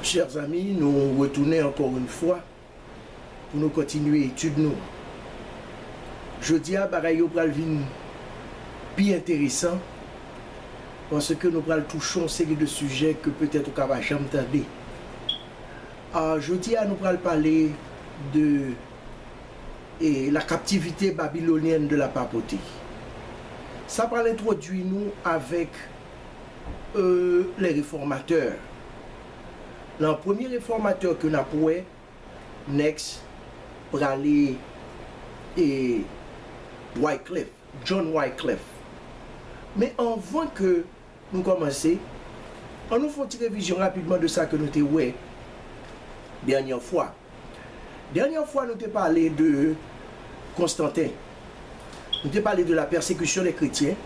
Chers amis, nou retounen ankò yn fwa pou nou kontinye etid nou. Jodi a bagay yo pral vin pi enteresan paske nou pral touche yon seri de sijè ke petèt ou ka pa janm tande. Jodi a nou pral pale de la captivité babylonienne de la papauté. Sa pral entwodui nou avèk. euh les reformateurs lan premye reformateur ke nap wè next prale eeh wyclef john wyclef men anvan ke nou komanse an nou fon ti revizyon rapidman de sa ke nou te wè dènyè fwa. Dènyè fwa nou te pale de Konstanten. Nou te pale de la pèsekisyon dè kretyen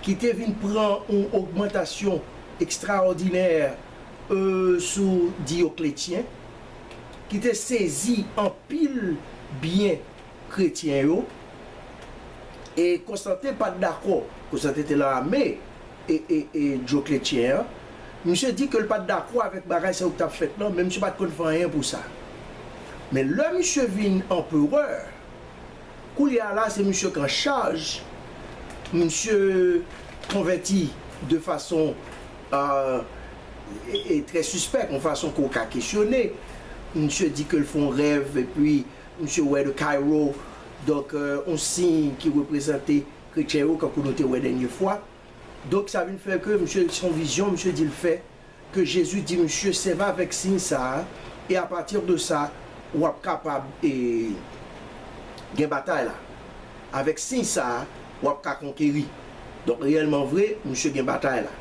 ki te vin pran yon ogmantasyon ekstraòdinè sou Diyokletyen ki te sezi anpil byen Kretyen yo, e Konstanten pa t dakò. Konstanten te lan ame e Dyokletyen an. Misye di ke l pa t dakò avèk bagay sa yo ki t ap fèt lan, men misye pa t konn fè anyen pou sa. Men lè misye vin anperè, koulye a la se misye k an chaj, misye konvèti de fason trè sispèk, yon fason ke w ka kesyone. Misye di ke l fè yon rèv epi Misye wè the Cairo donk yon siy ki reprezante kretyen yo kankou nou te wè dènye fwa. Donk sa vin fè ke misye son vizyon misye di l fè ke Jezi di misye sèvi avèk siy sa a e a pati de sa w ap kapab gen batay la. Avèk siy sa a w ap ka konkeri. Donk reyèlman vre misye gen batay la.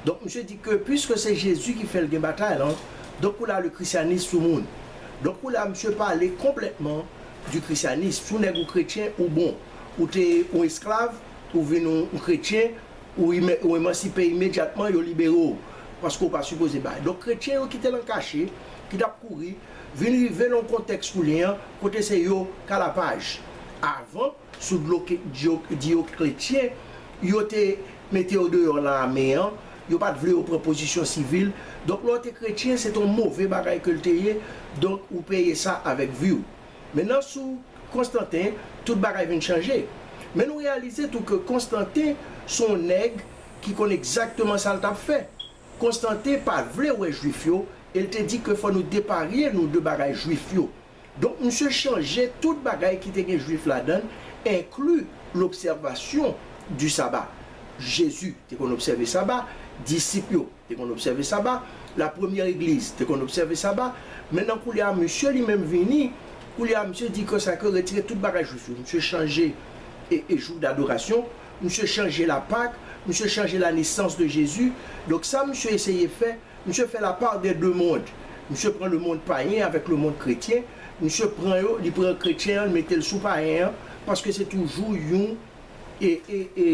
Donk misye di ke piske se Jezi ki fè l gen batay la donk koulye a le Krisyanis sou moun. Donk kou la misye pale konplètman di krisyanism. Si w nèg ou kretyen, ou bon. Ou te yon esklav, ou vin yon kretyen, ou emansipe imedyatman, yo libere w. Paske w pa sipoze bay. Donk kretyen yo ki te lan kache, ki t ap kouri, vin rive lan yon kontèks koulye an, kote se yo k a la paj. Avan. Sou dlo Diocletien, yo te mete yo deyò lame an, yo pa t vle yo pran pozisyon sivil, donk lè w te kretyen se te yon move bagay ke l te ye, donk ou peye sa avèk vi w. Men nan sou Constantin, tout bagay vin chanje. Men nou reyalize tou ke Constantin se yon nèg ki konn egzakteman sa l t ap fè. Constantin pa t vle wè Juif yo e l te di ke fò nou deparye nou de bagay Juif yo. Donk misye chanje tout bagay ki te gen jwif ladan l, enkli lobsèvasyon di saba. Jezi te konn obsève saba, disip yo te konn obsève saba, lapremyè legliz te konn obsève saba, men nan koulye a misye li menm vini, koulye a misye di kè sa kre retire tout bagay jwif yo, misye chanje e jou dadorasyon, misye chanje lapak, misye chanje lanesans de Jezi, donk sa misye eseye fè. Misye fè la part des deux monde. Misye pran le monde payen avèk le monde kretyen, misye pran yo, li pran kretyen an li mete l sou payen an, paske se toujou yon e e e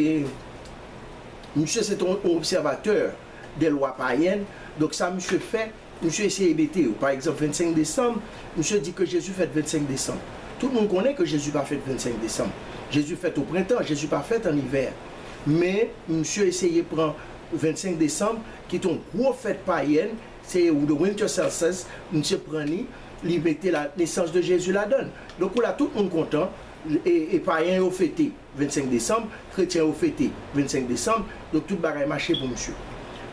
misye se te yon observateur des lois païennes, donk sa misye fè, misye eseye mete yo. Pa egzanp 25 desanm, misye di ke Jezi fèt 25 desanm. Tout moun konnen ke Jezi pa fèt 25 desanm. Jezi fèt o prentan, Jezi pa fèt an ivè. Men misye eseye pran 25 desanm. ki te yon gwo fèt payèn, se The Winter Solstice, misye pran li, li mete la naissance de Jésus ladan l. Donk ou la tout moun kontan, e payen yo fete 25 desanm, kretyen yo fete 25 desanm, donk tout bagay mache pou misye.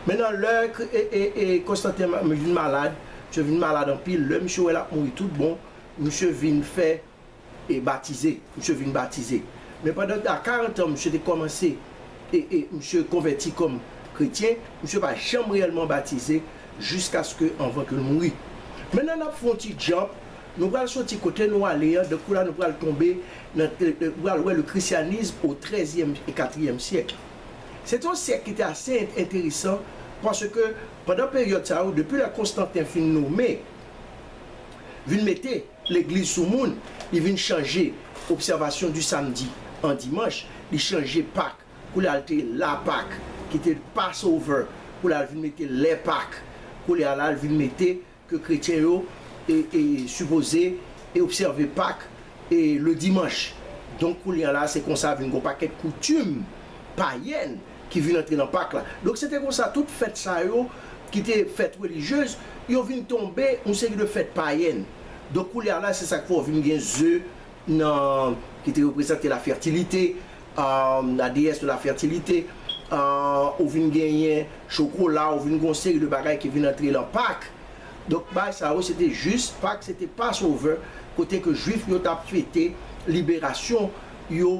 Mennan lè Konstanten vin malad, misye vin malad anpil, lè misye wè l ap mouri tout bon, misye vin fè. e batize, misye vin batize. Men pandan a 40 an misye te kòmanse e e misye konvèti kòm kretyen, misye pa janm reyèlman batize jiskaske anvan ke l mouri. Mennan n ap fè yon ti djamp, nou pral soti kote nou ale an, dankou la nou pral tonbe nan, nou pral wè le christianisme au trèzyèm e katriyèm syèk. Se te yon syèk ki te ase enteresan paske pandan peryòd sa yo, depi lè Konstanten fin nome, vin mete, Legliz sou moun, li vin chanje obsèvasyon di samdi an dimanch, li chanje Pak pou l al te la Pak ki te Passover pou l al vin mete lè Pak koulye a la l vin mete ke kretyen yo sipoze obsève Pak le dimanch donk koulye a la se konsa vin gon pakèt koutim payèn ki vin antre nan Pak la. Donk se te konsa tout fèt sa yo ki te fèt relijez, yo vin tonbe yon seri de fèt payèn. Donk koulye a la se sa k fè w vin gen ze nan ki te reprezante la fètilite, la deyès de la fètilite, ou vin genyen chokola, ou vin gen yon seri de bagay ki vin antre nan Pak. Donk bagay sa yo se te jis, Pak se te pasovè kote ke Juif yo t ap fete liberasyon yo.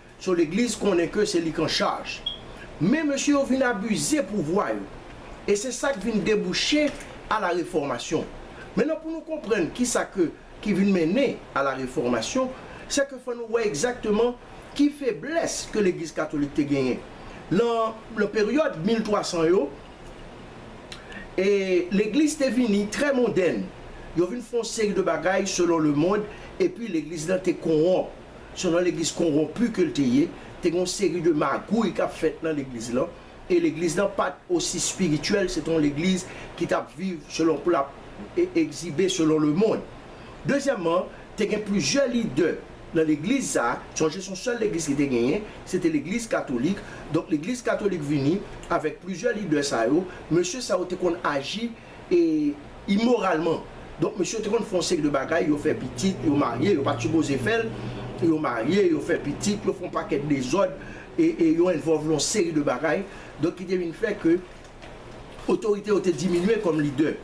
So legliz konnen ke se li k an chaj. Men mesye yo vin abize pouvwa yo. E se sa k vin debouche a la refòmasyon. Mennan pou nou konprann kisa ke ki vin mennen a la refòmasyon, se ke fò nou wè egzakteman ki feblès ke legliz katolik te genyen. Lan lan peryòd 1300 yo, e legliz te vini trè mondèn. Yo vin fè yon seri de bagay selon lemond epi legliz lan te konwonp. selon legliz konronpi ke l te ye, te gen yon seri de magouy k ap fèt nan legliz lan, e legliz lan pa t osi espirityèl, se te yon legliz ki t ap viv selon pou l ap egzibe selon lemonn. Dezyèmman, te gen plizyè lidè nan legliz sa a, sonje se yon sèl legliz ki te genyen, se te legliz katolik, donk legliz katolik vini avèk plizyè lidè sa yo, mesye sa yo te konn aji. e imoralman donk mesye yo te konn fè yon seri de bagay yo fè pitit yo marye yo pat sipoze fèl yo marye yo fè pitit yo fè yon pakèt dezòd e yo envòlve yon seri de bagay donk ki te vin fè ke otorite yo te diminye kòm lidè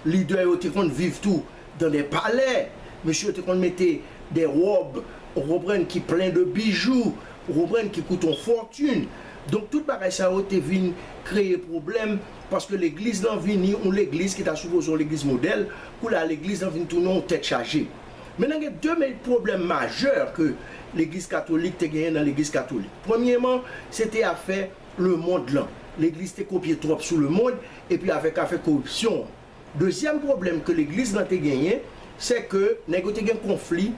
lidè yo te konn viv tou dan dè palè mesye yo te konn mete dè wòb ou konprann ki plen de bijou ou konprann ki koute yon fòtin donk tout bagay sa yo te vin kreye pwoblèm. Paske legliz lan vini yon legliz ki ta sipoze yon legliz modèl, koulye a legliz lan vin tounen yon tèt chaje. Mennen gen 2 me pwoblèm majè ke legliz katolik te genyen nan legliz katolik. Premyeman, se te afè lemond lan. Legliz te kopye twòp sou lemond epi avèk afè koripsyon an. Dezyèm pwoblèm ke legliz lan te genyen, se ke nèg yo te gen konfli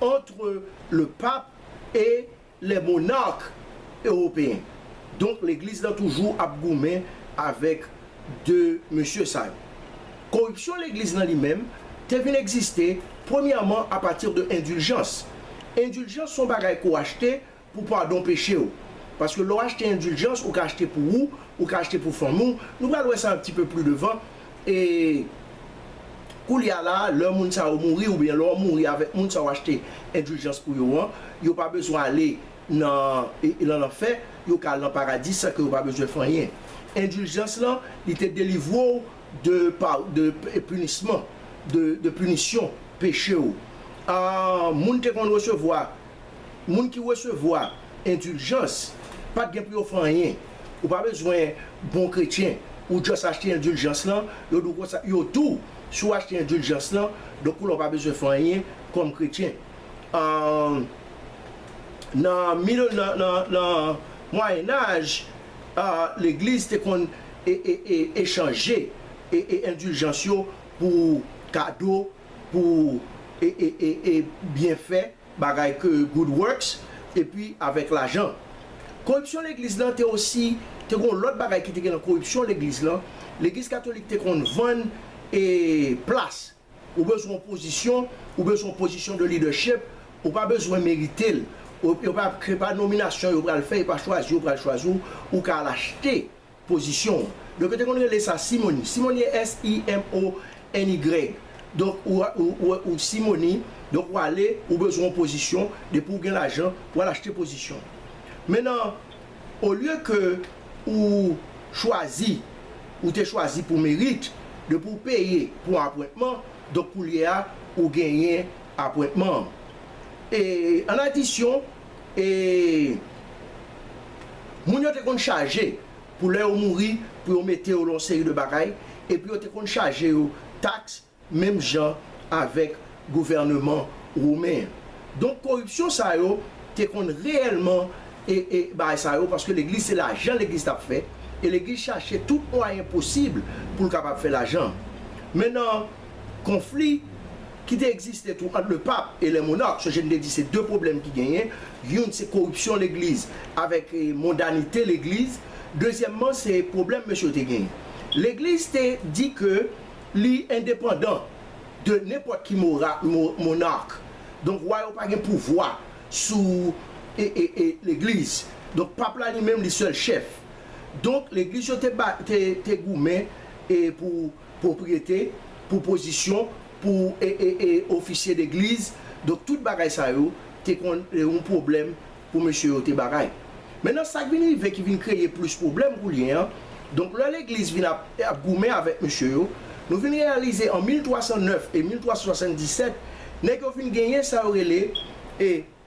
antre le pape e. lè monark ewopeyen. Donk legliz lan toujou ap goumen avèk 2 mesye sa yo. Koripsyon legliz lan li menm te vin egziste premyèman a pati de endiljans. Endiljans son bagay ke w achte pou padon peche w. Paske lè w achte endiljans ou ka achte pou ou, ou ka achte pou fanmi w, nou pral wè sa un petit peu plus devant, E koulye a la a, lè moun sa yo mouri oubyen lè w mouri avèk moun sa w achte endiljans pou yo an, yo pa bezwen ale nan lanfè, yo ka al nan paradi san ke yo pa bezwen fè anyen. Endiljans lan, li te delivre w de pinisman, de pinisyon peche ou. Moun te konn resevwa. moun ki resevwa endiljans pat gen pou yo fè anyen ou pa bezwen bon kretyen ou just achte endiljans lan yo dou konsa yo dou si w achte endiljans lan donk koulè w pa bezwen fè anyen kòm kretyen aah nan middle nan nan nan mwayenaj aah legliz te konn e e e echanje e e endiljans yo pou kado pou e e e e byenfè. Bagay ke good works epi avèk lajan. Koripsyon legliz lan te osi te gon lòt bagay ki te gen nan koripsyon legliz lan, legliz katolik te konn vann e plas, ou bezwen yon pozisyon, ou bezwen yon pozisyon de leadership, ou pa bezwen merite l, e pa nominasyon yo pral fè, e pa chwazi yo pral chwazi w, ou ka al achte. Pozisyon w. Donk yo te konn rele sa simoni. Simoni S i m o n y. Donk ou ou simoni, donk ou ale, ou bezwen yon pozisyon, depi ou gen lajan, ou al achte pozisyon. Men nan olye ke ou chwazi, ou te chwazi pou merit, depi ou peye pou yon apwentman, donk koulye a ou genyen apwentman an. E an adisyon. e moun yo te konn chaje pou lè yo mouri pou yo mete yo lan yon seri de bagay epi yo te konn chaje yo taks menm jan avèk gouvèneman women an. Donk koripsyon sa yo te konn reyèlman e bagay sa yo paske legliz se lajan legliz t ap fè e legliz chache tout mwayen posib pou l kapab fè lajan. Men nan konfli ki te egziste tou ant le pap e le monark, sonje m te di se 2 pwoblèm ki genyen, youn se koripsyon legliz avèk mondanite legliz, dezyèmman se pwoblèm mesye yo te genyen. Legliz te di ke li endepandan de nenpòt ki monark, donk wa yo pa gen pouvwa sou legliz, donk pap la li menm li sèl chèf. Donk legliz yo te goumen pou. Pwopriyete, pou pozisyon, pou ofisye legliz. Donk tout bagay sa yo te konn yon pwoblèm pou mesye yo te bagay. Mennen sa k vin rive ki vin kreye plis pwoblèm koulye a, donk lè legliz vin ap goumen avèk mesye yo, nou vin reyalize an 1309 e 1377 nèg yo vin genyen sa yo rele.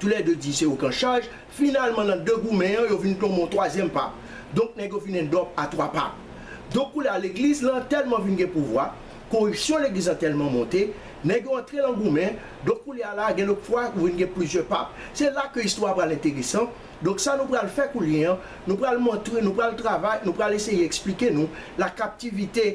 Tou lè 2 di se yo k an chaj, finalman nan 2 goumen an yo vin tonbe yon twazyèm pap. Donk nèg yo vin en dòp a 3 pap. Donk koulye a legliz lan tèlman vin gen pouvwa, koripsyon legliz lan tèlman monte, nèg yo antre lan goumen, donk koulye a la gen lòt fwa ou vin gen plizyè pap. Se la ke istwa a pral enteresan. Donk sa nou pral fè koulye an, nou pral montre, nou pral travay, nou pral eseye eksplike nou la kaptivite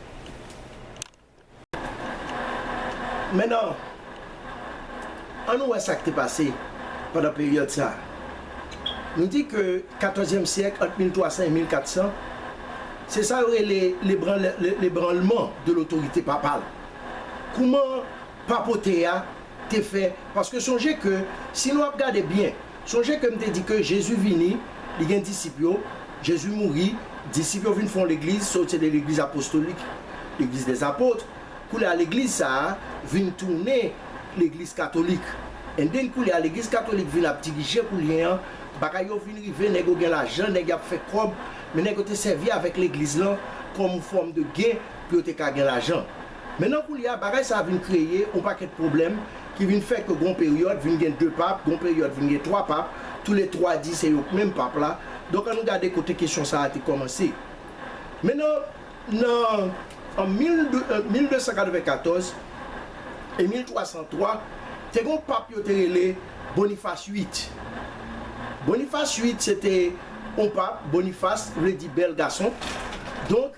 Menan, an nou wè sa k te pase pandan peryòd sa a. Nou di ke katòzyèm syèk, ant 1300 e 1400, se sa yo rele l'ébranlement de l'autorité papale. Kouman papote a te fè, paske sonje ke si nou ap gade byen, Sonje ke m te di ke Jezi vini, li gen disip yo, Jezi mouri, disip yo vin fon legliz, sa w se de legliz apostolik, legliz des apôtres, koulye a legliz sa a vin tounen legliz katolik, and then koulye a legliz katolik vin ap dirije koulyen an, bagay yo vin rive nèg yo gen lajan, nèg y ap fè kòb, men nèg yo te sèvi avèk legliz lan kòm fòm de gen pou yo te ka gen lajan. Men nan koulye a, bagay sa a vin kreye yon pakèt pwoblèm ki vin fè ke gon peryòd vin gen 2 pap, gon peryòd vin gen 3 pap, tou le 3 di se yo k menm pap la. Donk annou gade kote kesyon sa a te kòmanse. Men nan nan an 1294 e 1303, te gen yon pap yo te rele Bonifas uit. Bonifas uit se te yon pap, Bonifas vle di bèl gason. Donk.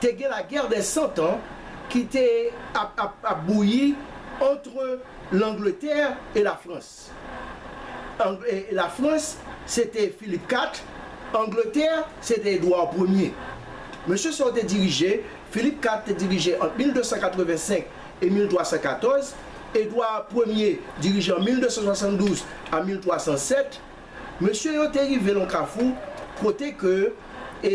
te gen la guerre des cent ans ki te ap ap ap bouyi entre l'Angleterre et la France. Ang e la France se te Philippe 4, Angleterre se te Edouard premye. Mesye sa yo te dirije, Philippe 4 te dirije ant 1285 e 1314, Edouard premye dirije an 1272 a 1307. Mesye yo te rive lon kafou kote ke e.